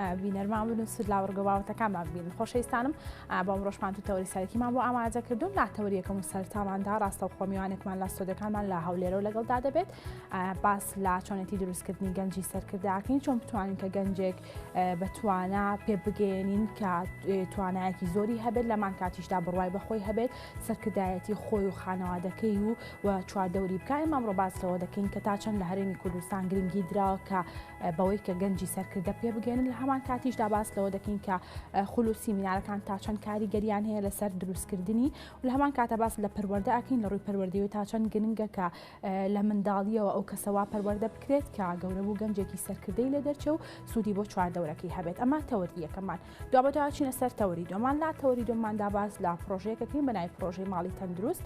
بینەرمان بن و سود لە وەرگە باوەتەکانمان بین خۆشەویستانم بۆ ئەمڕۆشمان تو تەوری سەرەکیمان بۆ ئاماجە کردوون لا تەوریەکەم و سەرتاماندا ڕاستە و خۆمیوانێکمان لە سۆدەکانمان لە هەولێرە و لەگەڵدا دەبێت باس لا چۆنێتی دروستکردنی گەنجی سەرکرداکەین چۆن بتوانین کە گەنجێک بەتوانە پێ بگەێنین کە توانایەکی زۆری هەبێت لەمان کاتیشدا بڕوای بەخۆی هەبێت سەرکردایەتی خۆی و خانەوادەکەی و و چواردەوری بکای مامڕۆ باسەوە دەکەین کە تا چەند لە هەرێمی کوردستان گرنگی دراوە کە بەوەی کە گەنجی سەرکردە پێ بگەێنن لە هەمان کاتیشدا باس لەوە دەکەین کە خول و سیمینارەکان تا چەند کاریگەریان هەیە لەسەر دروستکردنی و لە هەمان کاتە باس لە پەروەەردە ئەکەین لە ڕووی پەروەردەوە تا چەند گرنگە کە لە منداڵیەوە ئەو کەسەوا پەروەەردە بکرێت کە گەورە بوو گەنجێکی سەرکردەی لە دەرچە و سوودی بۆ چواردەورەکەی هەبێت ئەمە تەوەری یەکەمان دوابەدوا چینە سەر تەوەری دۆمان لا تەوەری دۆماندا باز لە پرۆژەیەکەکەین بە ناوی پرۆژەی ماڵی تەندروست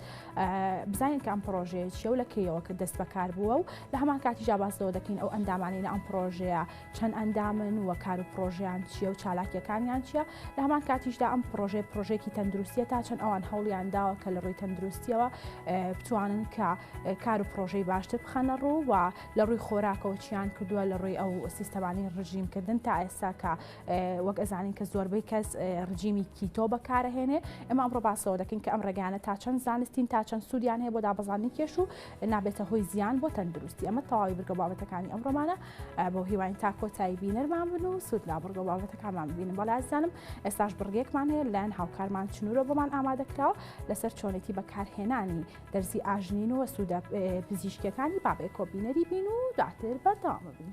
بزانین کە ئەم پرۆژەیە چیە و لە کێیەوە کە دەست بەکار بووە و لە هەمان کاتی جابازەوە دەکەین ئەو ئەندامانی لە ئەم پرۆژەیە چەند ئەندامن و کار و پرۆژیان چیە و چالاکیەکانیان چیە لە هەمان کاتیشدا ئەم پرۆژێ پرۆژێکی تەندروستیە تا چەند ئەوان هەوڵیان داوە کە لە ڕووی تەندروستیەوە بتوانن کە کار و پرۆژەی باشتر بخەنە ڕوو و لە ڕووی خۆراکەوە چیان کردووە لە ڕووی ئەو سیستەمانی ڕژیمکردن تا ئێستا کە وەک ئەزانین کە زۆربەی کەس رژیمی کیتۆ بەکارەهێنێ ئەمە ئەمڕۆ باسەوە دەکەین کە ئەم ڕێگانە تا چەند زانستین تا چەند سوودیان هەیە بۆ دابەزانانی کێش و نابێتە هۆی زیان بۆ تەندروستی ئەمە تەواوی بگە بابەتەکانی ئەم ڕۆمانە بۆ هیواین تا کۆتایی بینەرمان بن و سوود لابڕگە بابەتەکانمان ببینن بەڵازانم ئێستاش بڕگێکمان هەیە لایەن هاوکارمان چنورۆ بۆمان ئامادەکراوە لەسەر چۆنێتی بەکارهێنانی دەرزی ئاژنین و سوودە پزیشکەکانی بابێ کۆبینەری بین و دواتر بەردەوامە بین.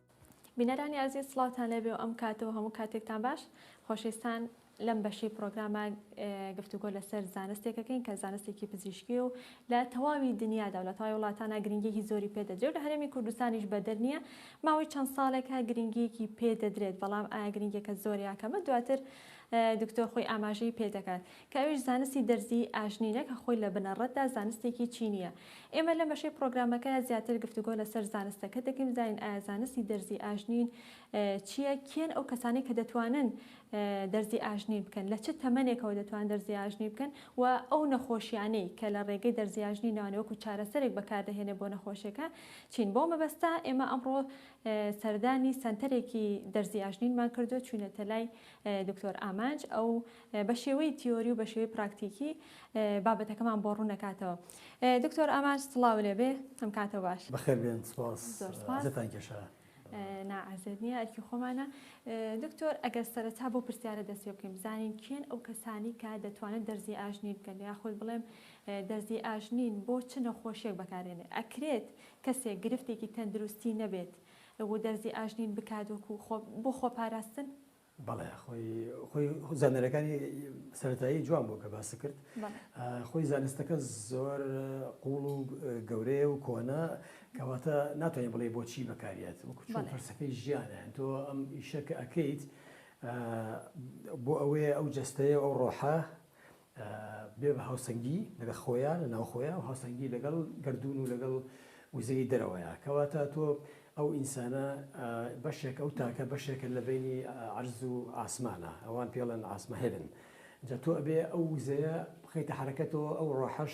بینەرانی ئازیز سڵاوتان لێبێ و ئەم کات و هەموو کاتێکتان باش خۆشەویستان لەم بەشی پرۆگرامە گفتوگۆ لەسەر زانستێکەکەین کە زانستێکی پزیشکی و لە تەواوی دنیادا و لە تای وڵاتانە گرنگیی زۆری پێدەدرێت لە هەرێمی کوردستانیش بەدەر نییە ماوەی چەند ساڵێکە گرنگیەکی پێدەدرێت بەڵام ئایا گرنگێکە زۆر یاکەمە دواتر دکتۆر خۆی ئاماژەی پێدەکات کە ئەویش زانستی دەرزیی ئاژنینە کە خۆی لە بنەڕەتدا زانستێکی چینییە. ئێمە لەم بەشەی پڕۆگرامەکەدا زیاتر گفتوگۆ لەسەر زانستەکە دەکەین، بزانین ئایا زانستی دەرزیی ئاژنین چییە، کێن ئەو کەسانەی کە دەتوانن دەرزیی ئاژنین بکەن، لە چ تەمەنێکەوە دەتوانن دەرزیی ئاژنین بکەن و ئەو نەخۆشییانەی کە لە ڕێگەی دەرزیی ئاژنینەوە وەکو چارەسەرێک بەکار دەهێنێت بۆ نەخۆشییەکە چین. بەو مەبەستە ئێمە ئەمڕۆ سەردانی سەنتەرێکی دەرزیی ئاژنینمان کردووە، چووینەتە لای دکتۆر ئامانج، ئەو بە شێوەی تیۆری و بە شێوەی پراکتیکی بابەتەکەمان بۆ ڕوون دەکاتەوە دکتۆر ئامانج سڵاو لێبێ ئەم کاتە باش بەخێر بێن سپاس زۆر سپاس زتان کێشە ناعزێت نییە ئەرکی خۆمانە دکتۆر ئەگەر سەرەتا بۆ پرسیارە دەست پێ بکەین بزانین کێن ئەو کەسانی کە دەتوانن دەرزی ئاژنی بکەن یاخود بڵێم دەرزی ئاژنین بۆ چ نەخۆشیێک بەکارێنێ ئەکرێت کەسێک گرفتێکی تەندروستی نەبێت و دەرزی ئاژنین بکات وەکو بۆ خۆپاراستن بەڵێ خۆی خۆی زانەرەکانی سەتایی جوان بوو کە باسی کرد خۆی زانستەکە زۆر قوڵ و گەورەیە و کۆنا کەواتە ناتوانین بڵێ بۆچی بەکاریت وەکو چۆن پرسەکەی ژیانە تۆ ئەم ئیشەکە ئەەکەیت بۆ ئەوەیە ئەو جستەیە ئەو ڕۆحە بێ بە هاوسەنگی لەگە خۆیا لە ناو خۆیا و هاوسەنگی لەگەڵ گەردوون و لەگەڵ وزەی دەرەوەیا کەواتە تۆ ئەو ئینسانە بەشێک ئەو تاکە بەشێکە لە بینی عەرز و ئاسمانە ئەوان پێڵێن ئاسمە هێبن جا تۆ ئەبێ ئەو وزەیە بخیتە حرەکەتەوە ئەو ڕۆحەش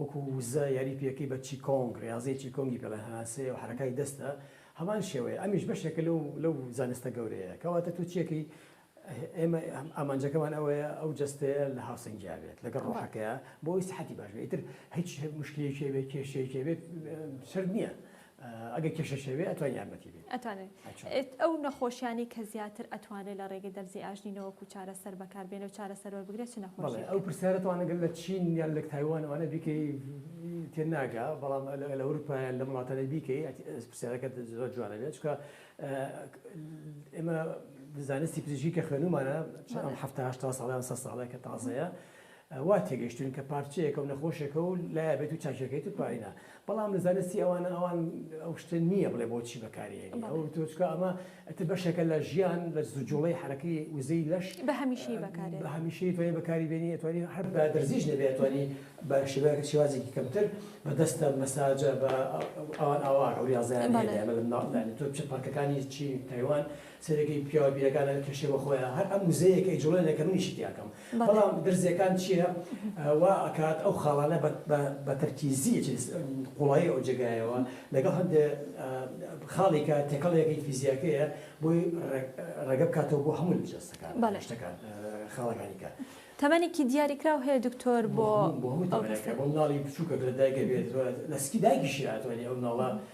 وەکو وزە یاری پێکەی بە چی کۆنگ، ریاضەی چی کۆنگی پێڵێن هەناسەیە و حەرەکای دەستە، هەمان شێوەیە ئەمیش بەشێکە لەو لەو زانستە گەورەیە کەواتە تۆ چیەکەی ئێمە ئامانجەکەمان ئەوەیە ئەو جەستەیە لە هاوسەنگیا بێت لەگەڵ ڕۆحەکەیا بۆ ئەوەی سەحەتی باش بێت ئیتر هیچ مشکلەیەکی هەبێت کێشەیەکی هەبێت سەرت نیە ئەگەر کێشەش هەبێ ئەتوانی یارمەتی بێ. ئەتوانێت ئەو نەخۆشیانەی کە زیاتر ئەتوانێت لە ڕێگەی دەرزی ئاژنی نەوەک و چارەسەر بەکار بێنێ و چارەسەر وەربگرێ چ نەخۆشیەکە؟ ئەو پرسیارە تاوانە گەر لە چین یان لە تایوان ئەوانە بیکەی تێ ناگا بەڵام لە ئەوروپا یان لەم وڵاتانە بیکەی پرسیارەکەت زۆر جوانە بێت چونکە ئێمە زانستی پزیشکی کە خوێنومانە چەند هەفتە هەشتا ساڵە یان سەد ساڵە کە تازەیە وا تێگەشتووین کە پارچەیەکە و نەخۆشێکە و لایە بێت و چاکیەکەیت و پارەی نا بەڵام لە زانستی ئەوانە ئەوان ئەو شتە نییە بڵێ بۆچی بەکاریێنی ئەو تۆ چکە ئەمە ئەتر بەشێکە لە ژیان لە زجوڵەی حرەکەی وزەی لەش بە هەمیشەی بەکارێ بە هەمیشەی توانی بەکاری بێنی ئەتوانی هەر بە دەرزیش نەبێ ئەتوانی بە شێوەیەکە شێوازێکی کەمتر بە دەستە مەساجە بە ئەوان ئاوا ئەو ریاضیان هەیە لە مناڵدانی تۆ بچە پارکەکانی چین تایوان سەرەکەی پیاوە بیرەکانە کێشێ بە خۆیان هەر ئەم وزەیەکەی جوڵێنەکە منیشی تیاکەم بەڵام درزیەکان چیە وا ئەکات ئەو خاڵانە بە تەرکیزی ئەچێت قوڵایی ئەو جێگایەوە لەگەڵ هەندێ خاڵێکە تێکەڵێکی فیزیاکەیە بۆی ڕێگە بکاتەوە بۆ هەموو جەستەکان شتەکان خاڵەکانی کە تەمەنێکی دیاریکراو هەیە دکتۆر بۆ بۆ هەموو تەمەنێکە بۆ مناڵی بچووکە لە دایکە بێت لە سکی دایکیشی ئەتوانێت ئەو مناڵە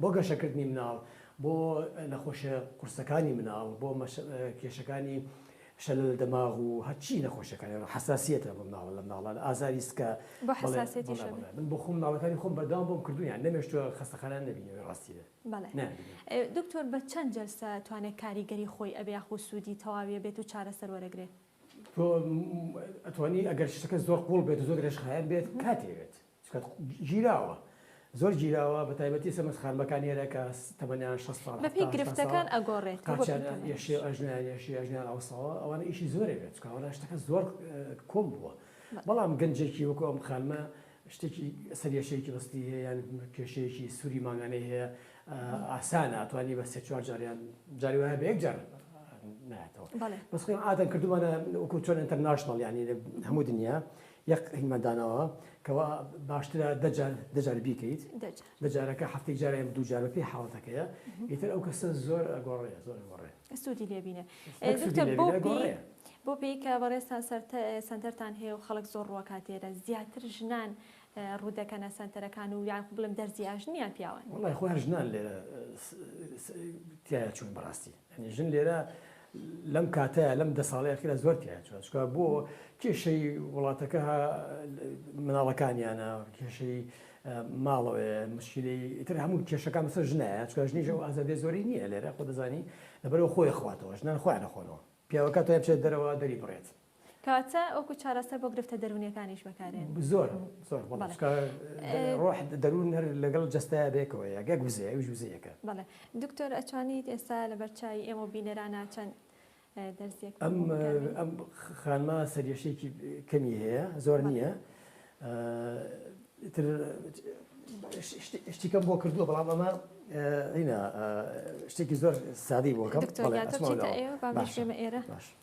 بۆ گەشەکردنی مناڵ، بۆ نەخۆشیە قورسەکانی مناڵ، بۆ کێشەکانی شەلە لە دەماغ و هەرچی نەخۆشیەکانی ڕۆ حەساسیەتە بۆ مناڵە لە مناڵە لە ئازاری سکە بۆ حەساسیەتیش هەبێ بەڵێ بەڵێ من بۆ خۆم مناڵەکانی خۆم بەردەوام بۆم کردوویان نەمێشتووە خەستەخانەیان نەبینیوە ڕاستی بێ بەڵێ نەیانبینیوە. دکتۆر بە چەند جەلسە توانێ کاریگەری خۆی ئەبێ یاخو سوودی تەواوی ئەبێت و چارەسەر وەرەگرێ؟ تۆ ئەتوانی ئەگەر شتەکە زۆر قوڵ بێت و زۆر درێژخایەن بێت کاتی ئەوێت سکەت گیراوە زۆر گیراوە بەتایبەتی سەمەس خان بەکان نێرە کە تەمەنیان 60 ساڵ بە پێی گرفتەکان ئەگۆڕێت ئەژنان ئەوساوە ئەوانە ئیشی زۆرە بێت چکاوانە شتەکە زۆر کۆم بووە بەڵام گەنجێکی وەکو ئەم خانمە شتێکی سەرێشەیەکی بەستی هەیە یان کێشەیەکی سووری ماگانەی هەیە ئاسانە توانی بە سێ چوار جاریان جاری وایە بە یەک جار ناتەوە بەس خۆم ئادەم کردومانە وەکو چۆن ئەتەرناشنڵ ینی هەموو دنیا یەک هیمان داناوە کەوا باشترە دە جار دە جار بیکەیت دە جار دە جارەکە هەفتەی جارە یان دوو جار بە پێی حاڵەتەکەیە ئیتر ئەو کەسە زۆر ئەگۆڕێ زۆر ئەگۆڕێ سوودی لێ بینێ یەک سوودی دکتۆر لێ بۆ بینێ پێی گۆڕێ بۆ پێی کە بەڕێزتان سەرتە سەنتەرتان هەیە و خەڵک زۆر ڕوەکات لێرە زیاتر ژنان اه، ڕوو دەکەنە سەنتەرەکان و یان خۆ بڵێم دەرزی ئاژنیان پیاوان وەڵای خۆ هەر ژنان لێرە س- س- تایە چوون بەڕاستی یانی ژن لێرە لەم کاتەیا لەم دە ساڵەی ئەخیرا زۆر تیایە چوە چکە بۆ کێشەی وڵاتەکە مناڵەکانیانە کێشەی ماڵەوە مشکلی تر هەموو کێشەکان بەسەر ژنایە چکە ژنیش ئەو ئازادی زۆری نییە لێرە خۆ دەزانی لەبەرەوە خۆی خواتەوە ژنان خۆیان نەخۆنەوە پیاوەکە تا بچێت دەرەوە دەری بڕێت کەواتە وەکو چارەسەر بۆ گرفتە دەروونیەکانیش بەکارێن. زۆر زۆر بەڵێ چونکە ڕۆح دەروون هەر لەگەڵ جەستەیا بەیەکەوەیە گەک وزەیە ئەویش وزەیەکە. بەڵێ دکتۆر ئەتوانیت ئێستا لەبەر چاوی ئێمە و بینەرانا چەند دەرزیەک ئەم ئەم خانمە سەریەشێکی کەمی هەیە زۆر نییە تر شتیکەم بۆ کردووە بەڵام ئەمە هینا شتێکی زۆر سادەی بۆکەم ئێرە باش.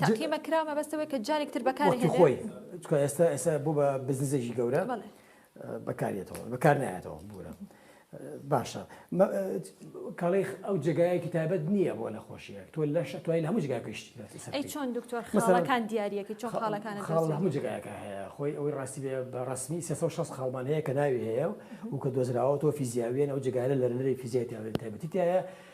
تاقیمە کرا مەبەست ئەوەیە کە جارێک تر بەکاری وەختی خۆی هێنرێت چکە ئێستا ئێستا بۆ بە بزنزێکی گەورە بەڵێ بەکارێتەوە بەکار نایەتەوە بورە باشە مە- کاڵی ئەو جێگایەکی تایبەت نییە بۆ نەخۆشیەک تۆ لەش توای لە هەموو جگای پێشتی دەستی سەر ئەی بکەیت. چۆن دکتۆر مەسەڵەن خاڵەکان دیارەکی چۆن خا- خاڵەکانە خاڵ لە دەست هەموو جێگایەکە هەیە خۆی ئەوەی ڕاستی بێ بە ڕسمی 360 خاڵمان هەیە کە ناوی هەیە و کە دۆزراوەەوە فیزیاویەن ئەو جگایە لەرەی فیزیای تایبەتی تایە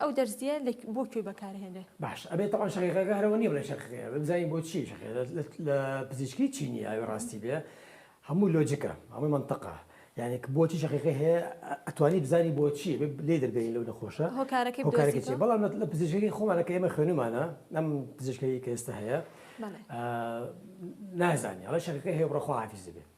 ئەو دەرزیە بۆ کوێ بەکارهێنێ. باش ئەبێ تەوان شەقیقەکە هەرەوە نیە بڵێ شەقیقەیە بێ بزانین بۆ چی شەقیقە لە پزیشکی چی نیە ئەوێ ڕاستی بێ هەموو لۆجکە هەمووی منطقە یعنی بۆچی شەقیقەی هەیە ئەتوانی بزانی بۆچی لێ دەربێنی لەو نەخۆشە هۆکارەکەی هۆکارەکە چی بەڵام لە پزیشکی خۆمانەکە ئێمە خوێنمانە ئەم پزیشکی کە ئێستا هەیە نازانانی ئەڵێ شەقیقەی هەیە بڕۆ خواحافیزی بێ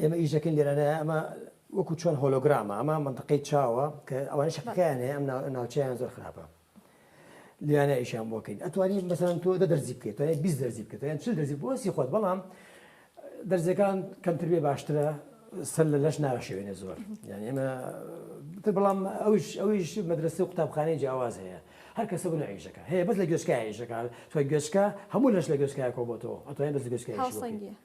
ئێمە ئیش دەکەین لێرانەیە ئەمە وەکو چۆن هۆلۆگرامە ئەمە منتەقەی چاوە کە ئەوان شەکەکەیان هەیە ئەم ناوچەیان زۆر خراپە لیانە ئیشان بۆکەین ئەتوانین بەسەن تۆ دە دەرزی بکەیت توانێ بی دەرزی بکەیت یان چل دەرزی بۆسی خۆت بەڵام دەرزەکان کەمتر بێ باشترە سەر لە لەش ناشەوێنە زۆر یان ئێمە تر بەڵام ئەوش ئەویش مەدرسە و قوتابخانەی جیاواز هەیە هەر کەسە بن عیشەکە هەیە بەس لە گوێشکایشەکە تۆ گوێشکە هەموو لەش لە گوێشکایە کۆ بۆ تۆ ئەتوانین بەس گوێشکە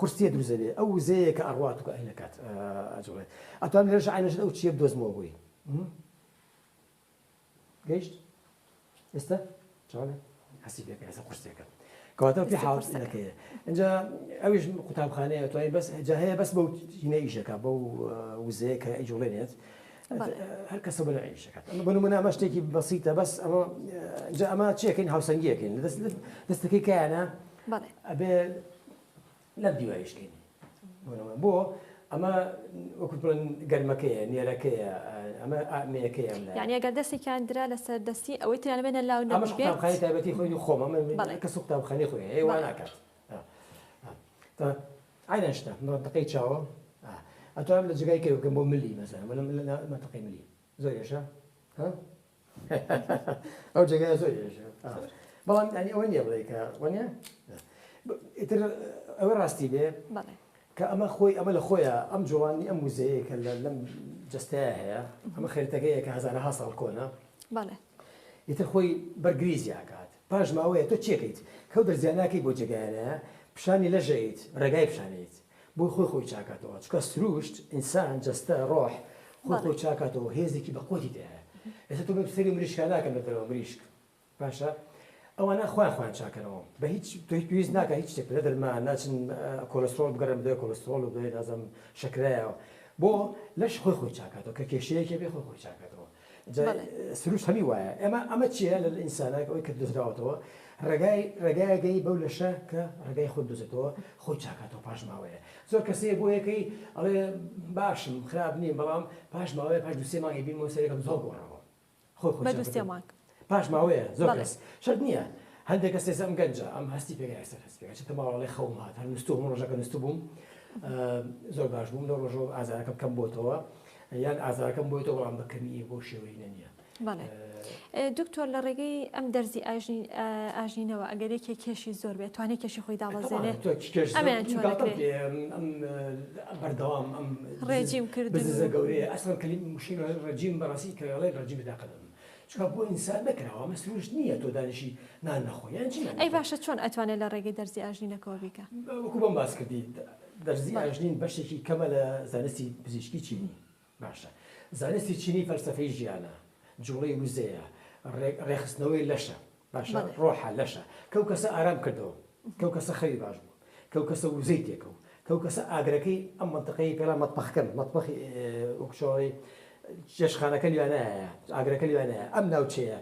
قورسیە دروست دەبێ ئەو وزەیە کە ئەڕوات و ئاینەکات ئەجوڵێت ئەتوانم لێرەش ئاینەشت ئەو چیە بدۆزمەوە بۆی گەیشت ئێستا چۆنە هەستی پێکە هەسە قورسەکە کەواتە پێ حاڵەکەیە اینجا ئەویش قوتابخانەیە توانین بەس جا هەیە بەس بەو هینە ئیشەکە بەو وزەیە کە ئەیجوڵێنێت هەر کەسە بەرە ئیشەکەات ئەمە بە منە ئەمە شتێکی بەسیتە بەس ئەمە جا ئەمە چێکین هاوسەنگیەکەین دەستەکەی کایانە ئەبێ لەم دیوایش کەین بۆ ئەمە وەکوت بڵێن گەرمەکەیە نێرەکەیە ئەمە ئامەیەکەیە یعنی ئەگەر دەستێکیان درا لەسەر دەستی ئەوەی تیان بێنە لاو نەمەشخانی تایبەتی خۆی خۆمە من کەس و قوتابخانی خۆی هەیە وا ناکات ئاینە شتە دقەی چاوە ئەتوانم لە جگای کەوکەم بۆ ملی مەسەر منتەقی ملی زۆر یشە ئەو جێگای زۆر ئێژە بەڵام ئەنی ئەوە نیە بڵێ کە وەنە ئیتر ئەوە ڕاستی بێ کە ئەمە خۆی ئەمە لە خۆیە ئەم جوڵانی ئەم وزەیە کە لە لەم جستەیە هەیە ئەمە خێرتەکەیە کە هزارها ساڵ کۆنە ئیتر خۆی بەرگریزیاکات پاش ماوەیە تۆ چێکیت کەو دەرزیانناکەی بۆ جێگایانە پیشانی لەژەیت ڕێگای پیشانیت بۆی خۆی خۆی چاکاتەوە چکە سروشت ئینسان جەستە ڕۆح خۆی خۆی چاکاتەوە هێزێکی بەقوتی تێهەیە ئێستا تۆ بەم سەری مریشکا ناکەم لە دەرەوە مریشک باشە ئەوانە خۆیان خۆیان چاکەرەوە بە هیچ تۆی پێویست ناکە هیچ شتێک لە دەرمان ناچن کۆلسترۆل بگەڕێن بدوێ کۆلسترۆل و دوێ نازم شکرایەوە بۆ لەش خۆی خۆی چاکاتەوە کە کێشەیەکێ بێ خۆی خۆی چاکاتەوە جا سروشت هەمی وایە. ئەمە ئەمە چیە لە ئینسانا ئەوەی کە دۆزراوەتەوە ڕێگای ڕێگایەک هەیە بەو لەشە کە ڕێگای خۆی دۆزێتەوە خۆی چاکاتەوە پاش ماوەیە زۆر کەس هەیە بۆ یەکەی ئەڵێ باشم خراپ نیم بەڵام پاش ماوەیە پاش دوو سێ مانگی بینمەوە سەرێکم زۆر گۆڕاوە خۆی خۆی چاکەتەوە. پاش ماوەیە زۆر بەڵێ. کەس شەرت نییە هەندێک کەس ئێستا ئەم گەنجە ئەم هەستی پێ نایە سەر هەستی پێ چونکە ماوە بەڵێ خەوم هات هەر نوستوو هەموو ڕۆژەکە نوستبووم ئا، زۆر باش بووم لەو ڕۆژەوە ئازارەکەم کەم بۆتەوە یان ئازارەکەم بۆیتەوە بەڵام بە کەمی نییە بەو شێوەیە نەنییە. بەڵێ. ئێ، دکتۆر لە ڕێگەی ئەم دەرزی ئاژین ئا، ئاژینەوە ئەگەر یەکێ کێشی زۆر بێ ئەتوانێ کێشی خۆی تەبعەن دابەزێنێ؟ تۆ چ کێش زۆر ئەمیان چۆن گاڵتەم ئەکرێ؟ پێ ئەم ئەم ئە، بەردەوام ئەم ڕێجیم کردن بززە و. گەورەیە ئەسڵەن کلیم مشکل ڕێجیم بەڕاستی کە ئەڵێن ڕێجیم بە تاقەت ئەبم چونکە بۆ ئینسان نەکراوە ئەمە سروشت نییە تۆ دانیشی نان نەخۆی یان چی یانی ئەی تۆ؟ باشە چۆن ئەتوانێ لە ڕێگەی دەرزی ئاژنینەکەوە بیکا؟ وەکو بۆم باس کردی دەرزی بەڵێ ئاژنین بەشێکی کەمە لە زانستی پزیشکی چینی باشە زانستی چینی فەلسەفەی ژیانە جوڵەی وزەیە ڕێ ڕێخستنەوەی لەشە باشە ڕۆحە لەشە کەو کەسە ئارام کردەوە کەو کەسە خەوی باش بوو کەو کەسە وزەی تێکەو کەو کەسە ئاگرەکەی ئەم منتەقەی پێلا مەتبەخکەن مەتبەخی وەکشەوەی جێشخانەکە لوێنایە ئاگرەکە لوێنایە ئەم ناوچەیە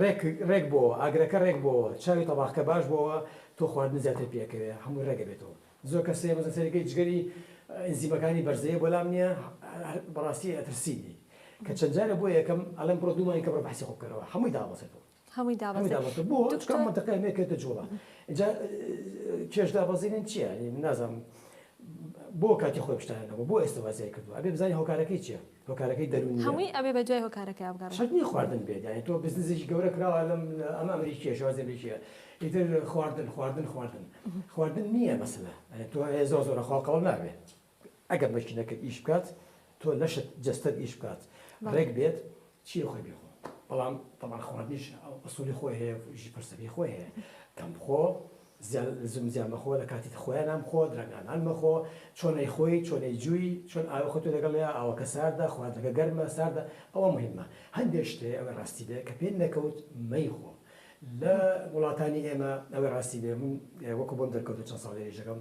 ڕێک ڕێک بۆ ئاگرەکە ڕێک بۆ چاوی تەباخکە باش بۆەوە تۆ خواردن زیاتر پێکەوێ هەموو ڕێگە بێتەوە زۆر کەسێ مەزە سەرەکەی جگەری ئەنزیمەکانی بەرزەیە بەڵام نییە بەڕاستی ئەترسینی کە چەند جارە بۆ یەکەم ئەلم بڕۆ دوومانی کە بڕ بەحسی خۆ بکەرەوە هەمووی دابەسێتەوە هەمووی دابەزی بۆ چکە مەتەقی مێ کردە جوڵە جا کێش دابەزینن چییە نازم بۆ کاتی خۆی پشتانە نەبوو بۆ ئێستا وازای کردو ئەبێ بزانانی هۆکارەکەی چیە هۆکارەکەی دەرونی هەمووی ئەبێ بە دوای هۆکارەکە ئەبگەڕ شتنی خواردن بێدانی تۆ بزنزیش گەورە کراوە لەم ئەمە ئەمریکیە شوازی بریکە ئیتر خواردن خواردن خواردن خواردن نییە مەسلە تۆ هێ زۆ زۆرە خوا قەڵ نابێت ئەگەر مەکینەکە ئیش بکات تۆ لەشت جەستەت ئیش بکات ڕێک بێت چیە خۆی بێ خۆ بەڵام تەبان خواردنیش ئەسولی خۆی هەیە ژی پرسەکەی خۆی هەیە کەم بخۆ زم زیان مەخۆ لە کاتی خۆیان نام خۆ درەنگانان مەخۆ چۆنەی خۆی چۆنەی جووی چۆن ئاوە خۆتو لەگەڵ لێ ئاوەکە ساردە خواردەکە گەرمە ساردە ئەوە مهمە هەندێک شتێ ئەوە ڕاستی بێ کە پێ نەکەوت مەیخۆ لە وڵاتانی ئێمە ئەوە ڕاستی بێ من وەکو بۆم دەرکەوتو چەند ساڵێژەکەم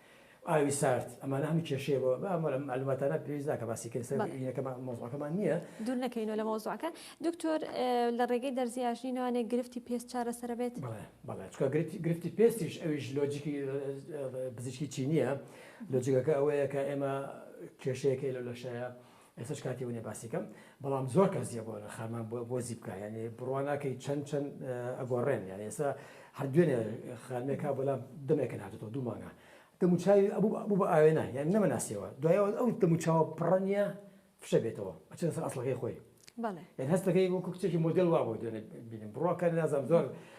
ئاوی سارد ئەمانە هەمووی کێشەیە بۆ بە ئەم معلوماتانە پێویست ناکە باسی کرد سەر یەکە مۆزوعەکەمان نییە دوور نەکەینەوە لە مۆزوعەکە دکتۆر لە ڕێگەی دەرزی ئاژنی نوانێ گرفتی پێست چارەسەرە بێت بەڵێ بەڵێ چکە گرفتی پێستیش ئەویش لۆجیکی بزیشکی چینیە لۆجیکەکە ئەوەیە کە ئێمە کێشەیەکەی لەو لەشەیە ئێستاش کاتی ئەوە نیە باسی کەم بەڵام زۆر کەس جێ بۆ خەرمان بۆ زی بکە یعنی بڕوا ناکەی چەند چەند ئەگۆڕێن یان ئێستا هەر دوێنێ خانمێکا بەلام دەمێکن هاتێتەوە دوو مانگە دەموچاوی ئەبوو بە ئاوێنە یان نەمەناسیەوە دوایەوە ئەو دەموچاوە پڕە نیە فشە بێتەوە ئەچێت سەر ئەسڵەکەی خۆی یان هەستەکەی وەکو کچێکی مۆدل وا بۆ دوێنێ بینم بڕواکە نازم زۆر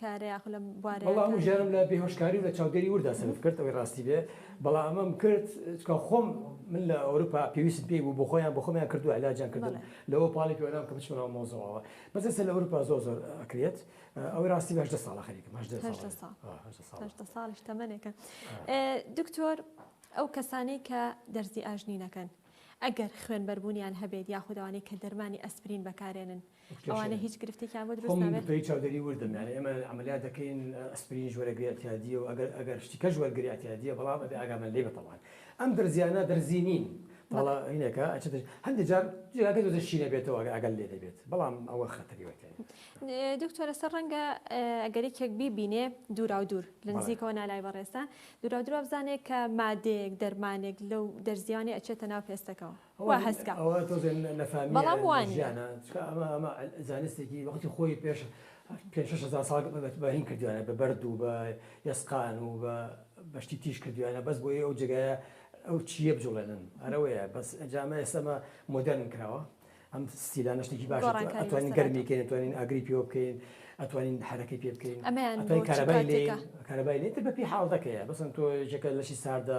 کارە یاخو لە بوارە وەڵا هەموو ژیانم لە بێ هۆشکاری و لە چاودێری وردا سەرف کرد ئەوەی ڕاستی بێ بەڵا ئەمەم کرد چکا خۆم من لە ئەورپا پێویستم پێی بوو بۆ خۆیان بۆ خۆمیان کردو علاجیان کردم لەوە پاڵی پێوەنام کە بچمە ناو مەوزەوەوە بەس ئێستا لە ئەورپا زۆر زۆر ئەکرێت ئەوەی ڕاستی بێ هەژدە ساڵە خەریکم هەژدە ساڵ هەژدە ساڵ هەژدە ساڵ هەژدە ساڵیش تەمەنێکە دکتۆر ئەو کەسانەی کە دەرزی ئاژنینەکەن ئەگەر خوێنبەربوونیان هەبێت یاخود ئەوانەی کە دەرمانی ئەسپرین بەکارێنن ئەوانە هیچ گرفتێکیان بۆ دروست نابێت. خۆم دکتۆری چاودێری وردم یانی ئێمە عەمەلیات دەکەین ئەسپرینیش وەرەگری ئەتیادیە و ئەگەر ئەگەر شتی کەش وەرگری ئەتیادیە بەڵام ئەبێ ئاگامان لێبێت تەبعەن ئەم دەرزیانە دەرزی نین تاڵە هینەکە ئەچێتە هەندێک جار جێگاکە دۆزە شی نەبێتەوە ئەگەر ئاگات لێ نەبێت بەڵام ئەوە خەتەری وەرتێنە. دکتۆر لەسەر ڕەنگە ئەگەر یەکێک بیبینێ دووراو دوور لە نزیکەوە نا لای بەڕێزتان دووراو دوور وابزانێ کە مادەیەک دەرمانێک لەو دەرزیانە ئەچێتە ناو پێستەکەوە. وا هەست کا. ئەوە تۆزێ نەفامی بەڵام وا نیە. ژیانە چکە ئەمە ئەمە زانستێکی وەختی خۆی پێش پێنج شەش هەزار ساڵ بە بە هین کردویانە بە بەرد و بە ئێسقان و بە بە شتی تیژ کردویانە بەس بۆیە ئەو جێگایە ئەو چییە بجوڵێنن ئەرە وەیە بەس ئەنجا ئەمە ئێستا ئەمە مۆدێرن کراوە ئەم ستیلانە شتێکی باشە تو گۆڕانکاری ئەتوانین وەسەر گەرمی هاتووە کەین ئەتوانین ئاگری پێوە بکەین ئەتوانین حەرەکەی پێ بکەین ئەمەیان بۆ ئەتوانین چ کارەبای لێ کاتێکە کارەبای لێ تر بە پێی حاڵەتەکەیە بەسن تۆ یەکێکە لەشی ساردا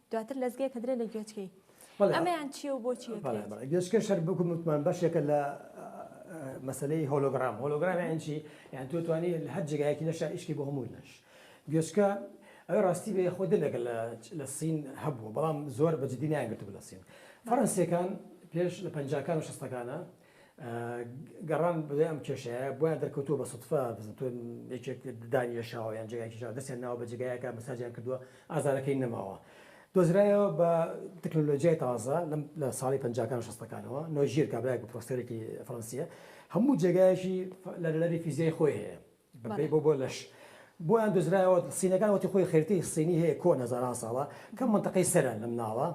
دواتر لەزگێک ئەدرێ لە گوێچکەی. ئەمەیان چیە و بۆچی ئەکرێت؟ بەڵێ بەڵێ گوێچکە شەر وەکم وتمان بەشێکە لە مەسەلەی هۆلۆگرام هۆلۆگرام یانی چی یان تۆ توانی لە هەر جێگایەکی لەشە ئیشکی بۆ هەموو لەش گوێچکە ئەوێ ڕاستی بێ خۆ دەمێکە لە لە سین هەبوو بەڵام زۆر بە جدی نایانگرتبوو لە سین فەڕەنسیەکان پێش لە پەنجاکان و شەستەکانە گەڕان بەدوای ئەم کێشەیە بۆیان دەرکەوتووە بە سوتفە بزن تۆ یەکێک دانی لێشاوە یان جێگای کێشاوە دەستیان ناوە بە جێگایەکە مەساجیان کردووە ئازارەکەی نەماوە دۆزرایەوە بە تەکنۆلۆژیای تازە لە ساڵی پەنجاکان و شەستەکانەوە نۆژیر کابرایەک و پرۆفسۆرێکی فەرەنسییە هەموو جێگایەکی لەرەلەری فیزیای خۆی هەیە بەپێی بۆ بۆ لەش بۆیان دۆزرایەوە سینەکان وەتی خۆی خەریتەی سینی هەیە کۆن هەزاران ساڵە کە مەنتەقەی سەرە لەم ناوە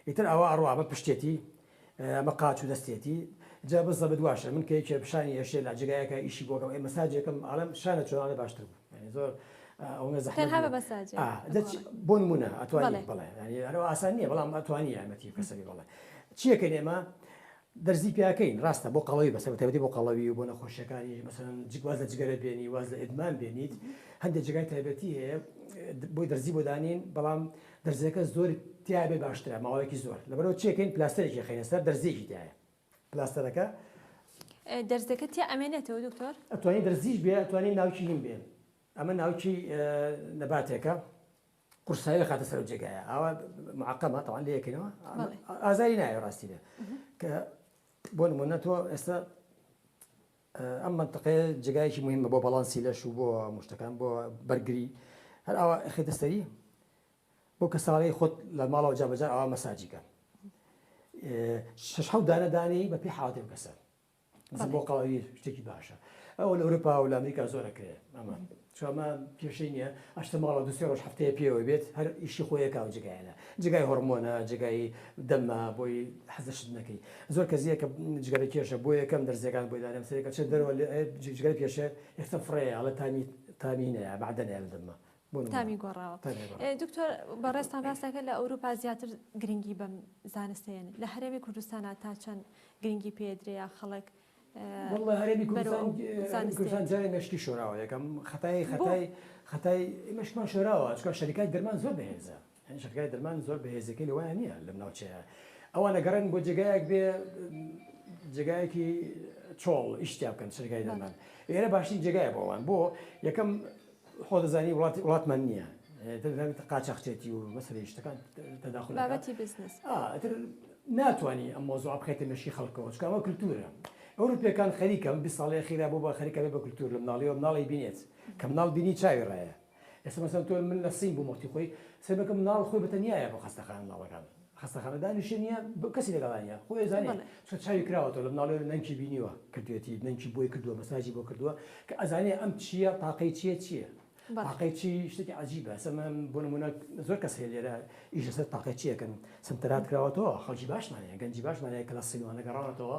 ئیتر ئەوە ئەڕوا ئەمە پشتێتی ئەمە قاچ و دەستێتی جا بزە بدواشە من کە یەکێ پیشانی هێشێ لە جێگایەکە ئیشی بۆکەم ئەی مەساجێکم ئەڵێم شانە چۆن ئەڵێ باشتر بوو یانی زۆر ئەو نە زەحمەت تەنها بە مەساجێ ئا دەچ بۆ نموونە ئەتوانی بەڵێ بەڵێ یانی هەروا ئاسان نییە بەڵام ئەتوانی یارمەتی کەسەکەی بەڵێ چییەکەین ئێمە دەرزی پیاکەین ڕاستە بۆ قەڵەوی بەسە بەتایبەتی بۆ قەڵەوی و بۆ نەخۆشیەکانی مەسەلەن جگ واز لە جگەرە بێنی واز لە ئیدمان بێنیت هەندێک جێگای تایبەتی هەیە بۆی دەرزی بۆ دانین بەڵام دەرزیەکە زۆر تیابێ باشترە ماوەیەکی زۆر لەبەرەوە چێکەین پلاستەرێکی خەینە سەر دەرزیەکی تایە پلاستەرەکە دەرزەکە تیا ئەمێنێتەوە دکتۆر ئەتوانی دەرزیش بێ ئەتوانی ناوکی هیم بێ ئەمە ناوکی نەباتێکە قورسایی دەخاتە سەر ئەو جێگایە ئاوا معقەمە تەوان لە یەکەوە ئازاری نایە ڕاستی بێ کە بۆ نمونە تۆ ئێستا ئەم منتەقەیە جگایکی مهمە بۆ بەڵانسی لەش و بۆ مشتەکان بۆ بەرگری هەر ئاوا خێتە سەری بۆ کە ساڵی خۆت لە ماڵەوە جابجار ئاوا مەساجیکە شش حەودانەدانی بە پێی حاڵەتی کەسە زبڵقاوی شتێکی باشە ئەوە لە ئەوروپا و لە ئەمریکا زۆر ئەکرێ ئەمە چۆمە کێشەی نییە ئەشتە ماڵە دوسێ ڕۆژ هەفتەیە پێوە بێت هەر ئیشی خۆیەکە و جگایەنە جگای هۆرمۆنە جگای دەمە بۆی حەزشت نەکەی زۆر کەزیە کە جگەرە کێشە بۆ یەکەم دەرزیەکان بۆی دارم سەرەکە چ دەرەوە جگەر کێشە ئێستا فڕێ ئەڵە تامی تامینەیە بەعدەنێ دەمە تامی گۆڕاوە دکتۆر بەڕێزتان باسەکە لە ئەوروپا زیاتر گرنگی بەم زانستێن لە هەرێمی کوردستانە تا چەند گرنگی پێدرەیە خەڵک والله هەرێمی کوردستان جارێ مشکی شۆراوە یەکەم خەتای خەتای خەتای مشکمان شۆراوە چکە شەریکای درمان زۆر بەهێزە یانی جێگای درمان زۆر بەهێزەکەی لەوەیان نیە لەم ناوچەیە ئەوان ئەگەڕێن بۆ جێگایەک بێ جێگایەکی چۆڵ ئیش تیا بکەن سەرگای دەمان ئێرە باشترین جێگایە بۆ ئەوان بۆ یەکەم خۆ دەزانی وڵاتی وڵاتمان نییە دەزانێت قاچاخچێتی و مەسەری شتەکان تەداخل بابەتی بزنس ناتوانانی ئەم مۆزوع بخێتە مشی خەڵکەوە چکەوە کللتورە ئەوروپیەکان خەریکەم بی ساڵی خیرا بۆ بە خەریکەێ بە کللتور لە مناڵیەوە مناڵی بینێت کە مناڵ بینی چاوی ڕایە ئێستا مەسەلەن تۆ من لە سنگ بووم وەختی خۆی سەیر بکە مناڵ خۆی بەتەنیایە بۆ خەستەخانە مناڵەکان خەستەخانە دانیشە نیە کەسی لەگەڵا نیە خۆی ئەزانێ چۆ چاوی کراوەتەوە لە مناڵێ نەنکی بینیوە کردوێتی نەنکی بۆی کردووە مەساجی بۆ کردووە کە ئەزانێ ئەم چیە تاقەی چیە چیە تاقەی چی شتێکی عجیبە سەمە بۆ نمونە زۆر کەس هەیە لێرە ئیش لەسەر تاقەی چیەکەن سنتەرات کراوەتەوە خەڵکی باشمانەیە گەنجی باشمانەیە کە لە سیلوانە گەڕاونەتەوە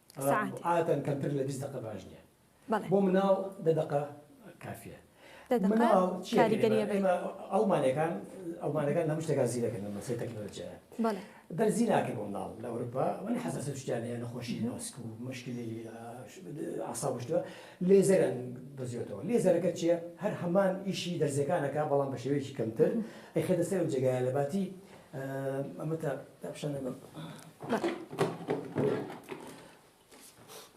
سەعاتێ. عادەتەن کەمتر لە بیست دەقە باش نییە. بەڵێ. بۆ مناڵ دە دەقە کافییە. دە دەقە مناڵ چییەکەی ئێمە؟ کاریگەرییە بە. ئێمە ئەڵمانییەکان ئەڵمانییەکان لە هەموو شتێکا زیرەکن لە بەسەی تەکنەلۆجیایە. بەڵێ. دەرزی ناکەی بۆ مناڵ لە ئەوروپا ئەوانە حەساسیەت شتیان هەیە نەخۆشی مێسک و مشکلی ئەعساب و شتوە لێزەریان دەزیۆتەوە. لێزەرەکە چییە؟ هەر هەمان ئیشی دەرزیەکان ئەکا بەڵام بە شێوەیەکی کەمتر ئەیخەێتە سەر ئەو جێگایە لە باتی ئەمە تا داپشانە بم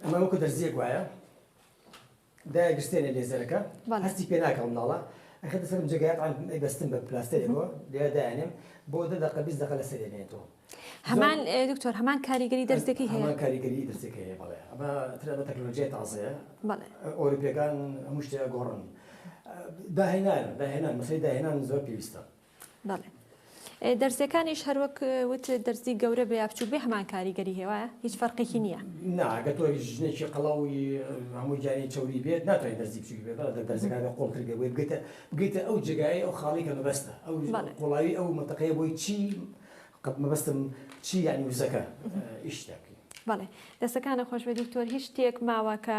ئەمە وەکو دەرزیەک وایە دای گرستێنە لێزەرەکە هەستی پێ ناکەم ناڵە ئەخە دەسەرم جگات بەستن بە پلاستێکەوە لێ دایانێم بۆ دە دەقە بیست دەقە لە سەرێنێتەوە هەمان دکتۆر هەمان کاریگەری دەستێکی هەیە کاریگەری دەستێکی هەیە بەڵێ ئەمە ترە بە تەکنۆلۆژیای تازەیە ئۆروپیەکان هەموو شتێ گۆڕن داهێنان داهێنان مەسەی داهێنان زۆر پێویستە بەڵێ دەرزیەکانیش هەروەک وت دەرزی گەورە بێ یا بچوک بێ هەمان کاریگەری هێوایە هیچ فەرقێکی نییە ناگە تۆ ژنێکی قەڵەوی هەموو جاری چوری بێت ناتوانین دەرزی بچوکی بێت بەڵێ دەرزەکان بە قۆڵتر بێ بۆی بگەیتە بگەیتە ئەو جێگایە ئەو خاڵی کە مەبەستە ئەو قوڵایی ئەو منتەقەیە بۆی چی قەت مەبەستم چی یانی وزەکە ئیش دەکەین بەڵێ دەستەکانە خۆش بێ دکتۆر هیچ شتێک ماوە کە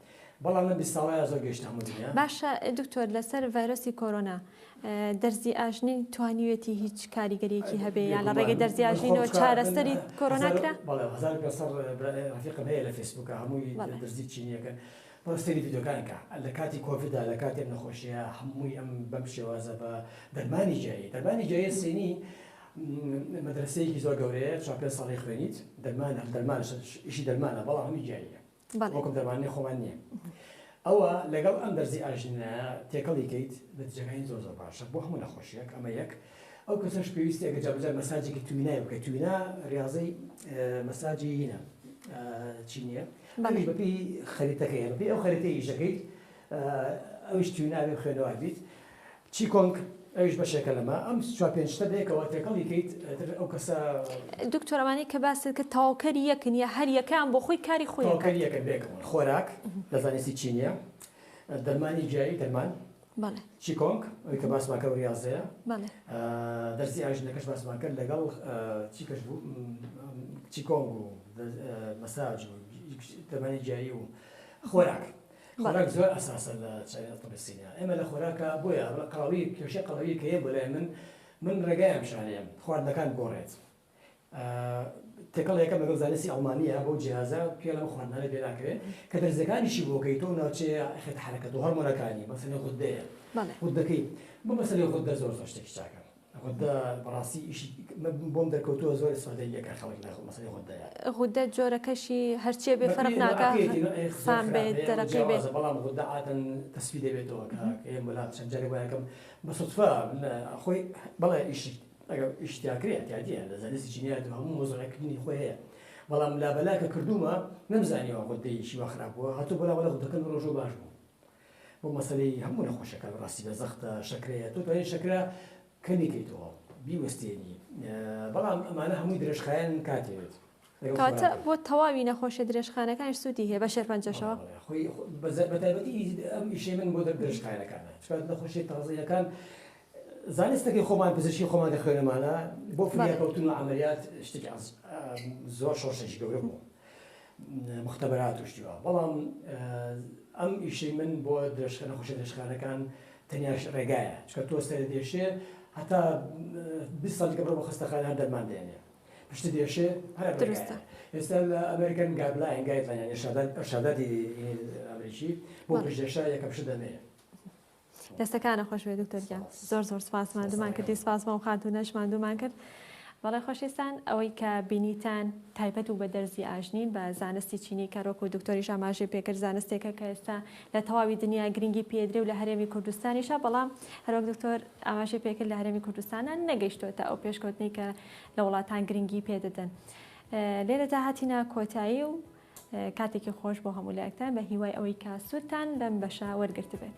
بەڵام لەم بیست ساڵەیا زۆر گەشتە هەموو دنیا. باشە دکتۆر لەسەر ڤایرۆسی کۆرۆنا دەرزی ئاژنین توانیوێتی هیچ کاریگەریەکی هەبێ یا لە ڕێگەی دەرزی ئاژینەوە چارەسەری کۆرۆنا کرا ڕفیقم هەیە لە فیسبوکە هەمووی دەرزی چینیەکە بەڕۆ سەیری ڤیدیۆکانی کە لە کاتی کۆڤیدا لە کاتێک نەخۆشیە هەمووی ئەم بەم شێوازە بە دەرمانی جایی دەرمانی جایی سینی مەدرسەیەکی زۆر گەورەیە چاپێ ساڵی خوێنیت دەرمانە دەرمانش ئیشی دەرمانە بەڵام هەمی جاییە وەکم دەرمانی خۆمان نییە ئەوە لەگەڵ ئەم بەرزی ئاژنایە تێکەڵی کەیت نەتیجەکانی زۆر زۆر باشە بۆ هەموو نەخۆشیەک ئەمە یەک ئەو کەسەش پێویستی ئەگە جابجار مەساجێکی توینای بکە توینا ریاضی مەساجی هینە چی نییە بەڵی بەپی خەریتەکەی بەپی ئەو خەریتە ئیشەکەیت ئەوش تویناوی خوێنەوە بیت چیکۆنگ ئەویش بەشێکە لەمە. ئەم چوار پێنج شتە بەیەکەوە تێکەڵی کەیت ئیتر ئەو کەسە. دکتۆر ئەوانەی کە باست کرد تەواوکەری یەکن یا هەر یەکەیان بۆ خۆی کاری خۆی ئەکات؟ تەواوکەری یەکن بەیەکەوە. خۆراک لە زانستی چینیە. دەرمانی گیایی دەرمان. بەڵێ. چیکۆنگ ئەوی کە باسمان کرد ڕیازەیە. بەڵێ. دەرسی ئاژنە کەش باسمان کرد لەگەڵ چی کەش بوو چیکۆنگ و مەساج و دەرمانی گیایی و خۆراک. خۆراک زۆر ئەساسە لە چاوی تەبی سینە ئێمە لە خۆراکا بۆیە ئەڵێ قەڵەوی کێشەی قەڵەوی کە هەیە بۆ لای من من ڕێگای ئەم شارەیەم خواردنەکان بگۆڕێت تێکەڵ یەکەم لەگەڵ زانستی ئەڵمانیە بەو جیازە پێڵە بە خواردنانە پێ ناکرێت کە دەرزەکانیشی بۆکەی تۆ ناوچەیە خێت حرەکەت و هەرمۆنەکانی مەسەلە غدەیە غدەکەی بۆ مەسەلەی غدە زۆر زۆر شتێکی چاکە غودە بەڕاستی ئیشی من بۆم دەرکەوتووە زۆر سۆدەییەکە خەڵک لە مەسەلەی غودەیە. غودە جۆرەکەشی هەرچیە بێ فەرق ناکا خام بێت دەرەقی بێت. بەڵام غودە عادەن تەسفی دەبێتەوە کە ئێم وەلا چەند جارێک وای ئەکەم بە سوتفە من خۆی بەڵێ ئیشی ئەگەر ئیش تیا کرێ ئەتیادیە لە زانستی جینیات و هەموو مۆزەکردنی خۆی هەیە بەڵام لابەلا کە کردوومە نەمزانیەوە غودەیەکی وا خراپ بووە هاتوو بەلا وەلا غودەکەم ڕۆژوو باش بوو بۆ مەسەلەی هەموو نەخۆشیەکان ڕاستی بێ زەختە شەکرەیە تۆ توانێت شەکرە کەمی کەیتەوە بیوەستێنی بەڵام ئەمانە هەمووی درێژخایەن کاتێت کاتە بۆ تەواوی نەخۆشە درێژخانەکان سوودی هەیە بە شێرپەنجەشەوە بەتابەتی ئەم ئیشەی من بۆ درێژخانەکانە چکات نەخۆشی تازەیەکان زانستەکەی خۆمان پزیشکی خۆمان دەخوێنەمانە بۆ فریاکەوتن و عملیات شتێک زۆر شۆشێکی گەورە بوو موختەبەرات و شتی وا بەڵام ئەم ئیشەی من بۆ درێژخە نەخۆشە درێژخانەکان تەنیاش ڕێگایە چکە تۆ سەر دێشێ هەتا بی ساڵیکە بڕۆ بە خستەخانە هەر دەرمان دێنێ پشت دێشێ هەر درستە ئێستا لە ئەمریکن گابلاین گایدلاین شاداتی ئەمریکی بۆ پشتێشا یەکە پشت دەمێنێ دەستەکانت خۆش بێت دکتۆر گیان زۆر زۆر سپاس ماندومان کردی سپاس بەو خاتونەش ماندومان کرد بەڵێ خۆشیستان ئەوەی کە بینیتان تایبەت و بە دەرزی ئاژنین بە زانستی چینی کەرۆک و دکتۆریش ئاماژەی پێکرد زانستێکە کە ئێستا لە تەواوی دنیا گرنگی پێدرێ و لە هەرێمی کوردستانیشە بەڵام هەروەک دکتۆر ئاماژەی پێکرد لە هەرێمی کوردستانە نەگەیشتۆتە ئەو پێشکەوتنی کە لە وڵاتان گرنگی پێدەدەن لێرەدا هاتینا کۆتایی و کاتێکی خۆش بۆ هەموو لایەکتان بە هیوای ئەوەی کە سوودتان لەم بەشە وەرگرتبێت.